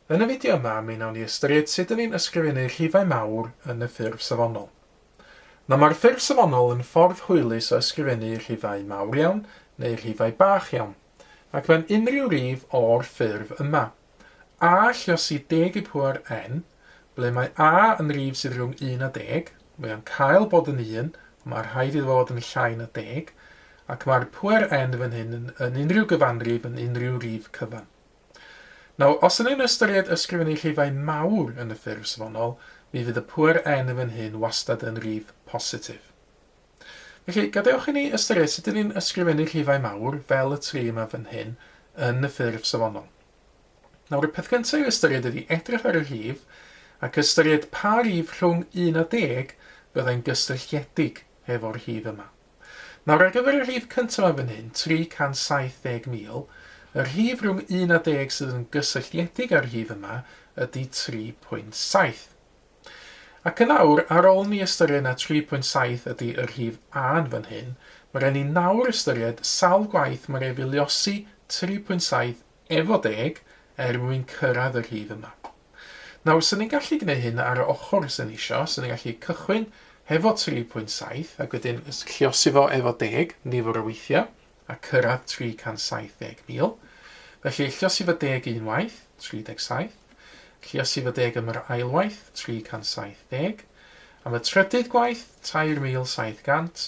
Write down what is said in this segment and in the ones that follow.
Yn y fideo yma mi wnawn ni ystyried sut dyn ni'n ysgrifennu rhifau mawr yn y ffurf safonol. Nawr mae'r ffurf safonol yn ffordd hwylus o ysgrifennu rhifau mawr iawn neu rhifau bach iawn, ac mewn unrhyw rif o'r ffurf yma, a, lluosi, deg i pŵer n, ble mae a yn rif sydd rhwng un a deg, Mae o'n cael bod yn un, ond mae rhaid iddo fod yn llai na deg, ac mae'r pŵer N fan hyn yn, yn unrhyw gyfanrif yn unrhyw rif cyfan. Nawr, os ydyn ni'n ystyried ysgrifennu rhifau mawr yn y ffurf safonol, mi fydd y pŵer N fan hyn wastad yn rif positif. Felly, gadewch i ni ystyried sut ydyn ni'n ysgrifennu rhifau mawr, fel y tri yma fan hyn, yn y ffurf safonol. Nawr, y peth gyntaf i'w ystyried ydy edrych ar y rhif ac ystyried pa rif rhwng 1 a 10 fyddai'n gysylltiedig efo'r rhif yma. Nawr, ar gyfer y rhif cyntaf yma fan hyn, 370,000, y rhif rhwng 1 a 10 sydd yn gysylltiedig â'r rhif yma ydy 3.7. Ac yn awr, ar ôl ni ystyried na 3.7 ydy y rhif A yn fan hyn, mae rhaid ni nawr ystyried sawl gwaith mae'n ei filiosi 3.7 Efo deg, er mwyn cyrraedd y rhif yma. Nawr, 'sen ni'n gallu gwneud hyn ar y ochr 'sen ni isio, 'sen ni'n gallu cychwyn hefo 3.7 ac wedyn llosi fo efo deg nifer o weithiau a cyrraedd 370,000. Felly, llosi fo deg unwaith, 37, llosi fo deg am yr ail waith, 370, am y trydydd gwaith, 3,700,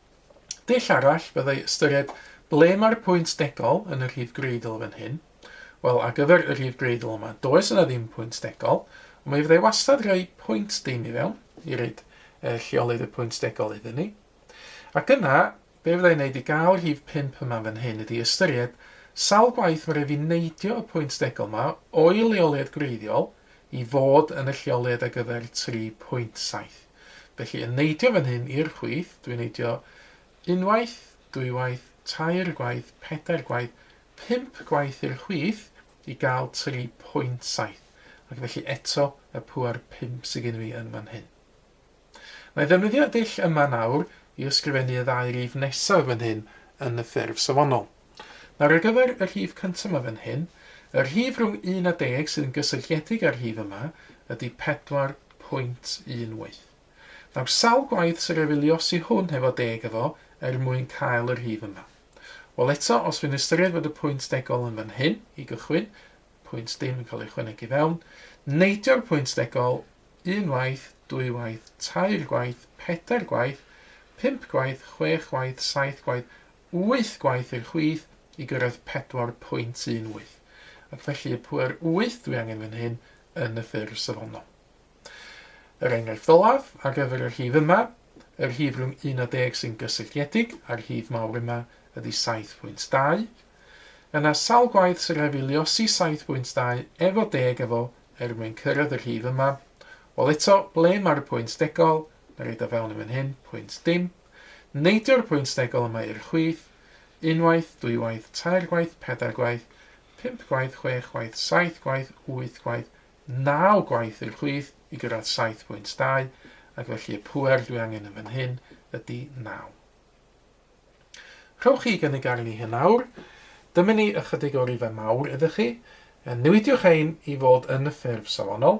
Dull arall fyddai ystyried ble mae'r pwynt degol yn y rhif greidl fan hyn. Wel, ar gyfer y rhif greidl yma, does yna ddim pwynt degol, ond mi fyddai wastad rhoi pwynt dim i fewn i roed e, lleolydd y pwynt degol iddyn ni. Ac yna, be fyddai'n wneud i gael yr rhif 5 yma fan hyn ydy ystyried sawl gwaith mae rhaid fi neidio y pwynt degol yma o'i leoliad gwreiddiol i fod yn y lleoliad ar gyfer 3.7. Felly yn neidio fan hyn i'r chwith, dwi'n neidio unwaith, dwywaith, tair gwaith, pedair gwaith, pump gwaith i'r chwith i gael 3.7, ac felly eto y pŵer 5 sydd gen fi yn fan hyn. Mae ddefnyddio y dull yma nawr i ysgrifennu y ddau rif nesaf fan hyn yn y ffurf safonol. Nawr ar gyfer y rhif cyntaf yma fan hyn, y rhif rhwng 1 a 10 sydd yn gysylltiedig â'r rhif yma ydy 4.18. Nawr sawl gwaith sy'n rhaid fi luosi hwn hefo deg efo er mwyn cael y rhif yma? Wel eto, os fi'n ystyried fod y pwynt degol yn fan hyn i gychwyn, pwynt dim yn cael ei ychwanegu i fewn, neidio'r pwynt degol un waith, dwy waith, tair gwaith, pedair gwaith, pump gwaith, chwech waith, saith gwaith, wyth gwaith i'r chwith i gyrraedd 4.18, ac felly y pŵer wyth dwi angen fan hyn yn y ffurf safonol. Yr enghraifft olaf ar gyfer y rhif yma, y rhif rhwng 1 a 10 sy'n gysylltiedig â'r rhif mawr yma ydy 7.2. Yna sawl gwaith sy'n rhaid fi luosi 7.2 efo 10 efo er mwyn cyrraedd y rhif yma? Wel eto, ble mae'r pwynt degol? Mae roed o fewn yn fan hyn, pwynt dim. Neidio'r pwynt degol yma i'r chwith, unwaith, dwywaith, tair gwaith, pedair gwaith, pump gwaith, chwech gwaith, saith gwaith, wyth gwaith, naw gwaith i'r chwith i gyrraedd saith pwynt dau, ac felly y pŵer dwi angen yn fan hyn ydy naw. Rhowch chi gynnig arni hyn nawr. Dyma ni ychydig o rifau mawr iddo chi. Newidiwch ein i fod yn ffurf safonol.